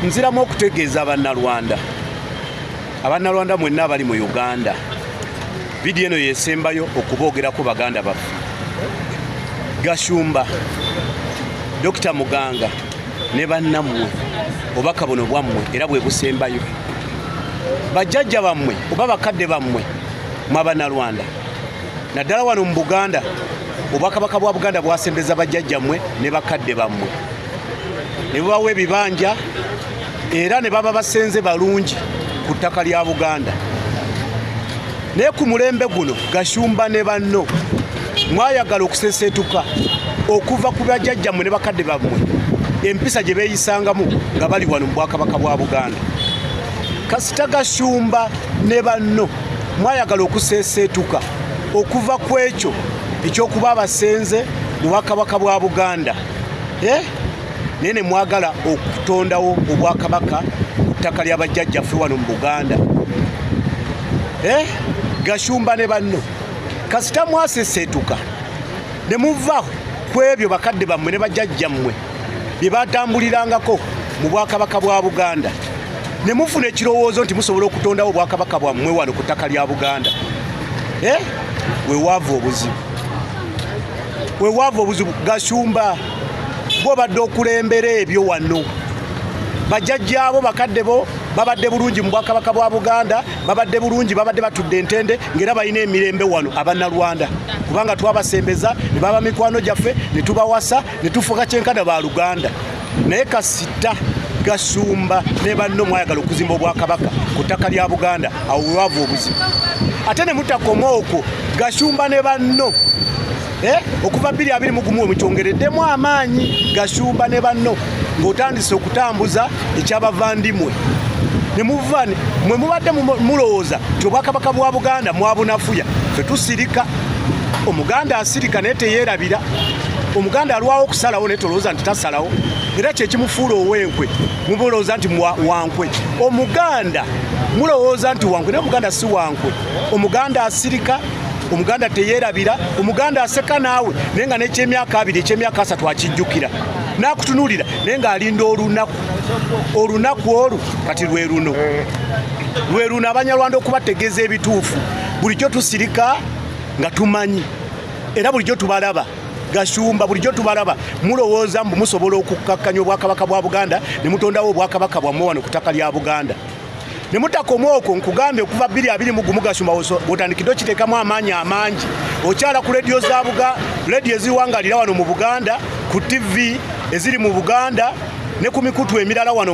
nziramu okutegeeza abannalwanda abannalwanda mwenna abali mu uganda vidiyo eno yesembayo okuboogerako baganda baffe gashumba dokita muganga ne bannammwe obubaka buno bwammwe era bwe busembayo bajjajja bammwe oba bakadde bammwe mwabanalwanda naddala wano mu buganda obwakabaka bwa buganda bwasembeza bajjajjammwe ne bakadde bammwe ne bubawa ebibanja era ne baba basenze balungi ku ttaka lya buganda naye ku mulembe guno gashumba ne banno mwayagala okuseseetuka okuva ku bajajjammwe ne bakadde bammwe empisa gye beeyisangamu nga bali wano mu bwakabaka bwa buganda kasita gashumba ne banno mwayagala okuseeseetuka okuva ku ekyo ekyokuba abasenze mu bwakabaka bwa buganda eh? naye ne mwagala okutondawo obwakabaka ku ttaka lya bajjajjaffe wano mu buganda eh? gashumba ne banno kasita mwaseseetuka ne muva ku ebyo bakadde bammwe ne bajjajjammwe bye batambulirangako mu bwakabaka bwa buganda ne mufuna ekirowoozo nti musobola okutondawo obwakabaka bwammwe wano ku ttaka lya buganda eh? we waava obuzibu wewaava obuzibu gashumba gwobadde okulembera ebyo wano bajajjaabo bakadde bo babadde bulungi mu bwakabaka bwa buganda babadde bulungi babadde batudde entende ngaera balina emirembe wano abannalwanda kubanga twabasembeza ne baba mikwano gyaffe ne tubawasa ne tufuka kyenkana ba luganda naye kasita gasumba ne banno mwayagala okuzimba obwakabaka ku ttaka lya buganda awo wewava obuzibu ate ne mutakoma okwo gasumba ne banno eh, okuva bbiri abiri mugumu we mukyongereddemu amaanyi gasumba ne banno ng'otandise okutambuza ekyabavandimwe ne muva mwe mubadde mulowooza nti obwakabaka bwa buganda mwabunafuya fe tusirika omuganda asirika naye teyeerabira omuganda alwawo okusalawo naye tolowooza nti tasalawo era kyekimufuula owenkwe mubulowooza nti wankwe omuganda mulowooza nti wankwe naye omuganda si wankwe omuganda asirika omuganda teyerabira omuganda aseka naawe naye nga nekyemyaka abiri ekyemyaka asatu akijjukira nakutunulira naye ngaalinda olunaku olunaku olwo kati lwe luno lwe luno abanyarwanda okubategeeza ebituufu bulijjo tusirika nga tumanyi era bulijjo tubalaba gashumba bulijjo tubalaba mulowooza mbu musobola okukkakkanya obwakabaka bwa buganda ne mutondawo obwakabaka bwammwe wano ku ttaka lya buganda ne mutakoma okwo nkugambe okuva bbiri abiri mu gumu gashumba bwotandikidde okiteekamu amaanyi amangi okyala ku lediyo za buga lediyo eziwangalira wano mu buganda ku tivi eziri mu buganda ne ku mikutu emirala wano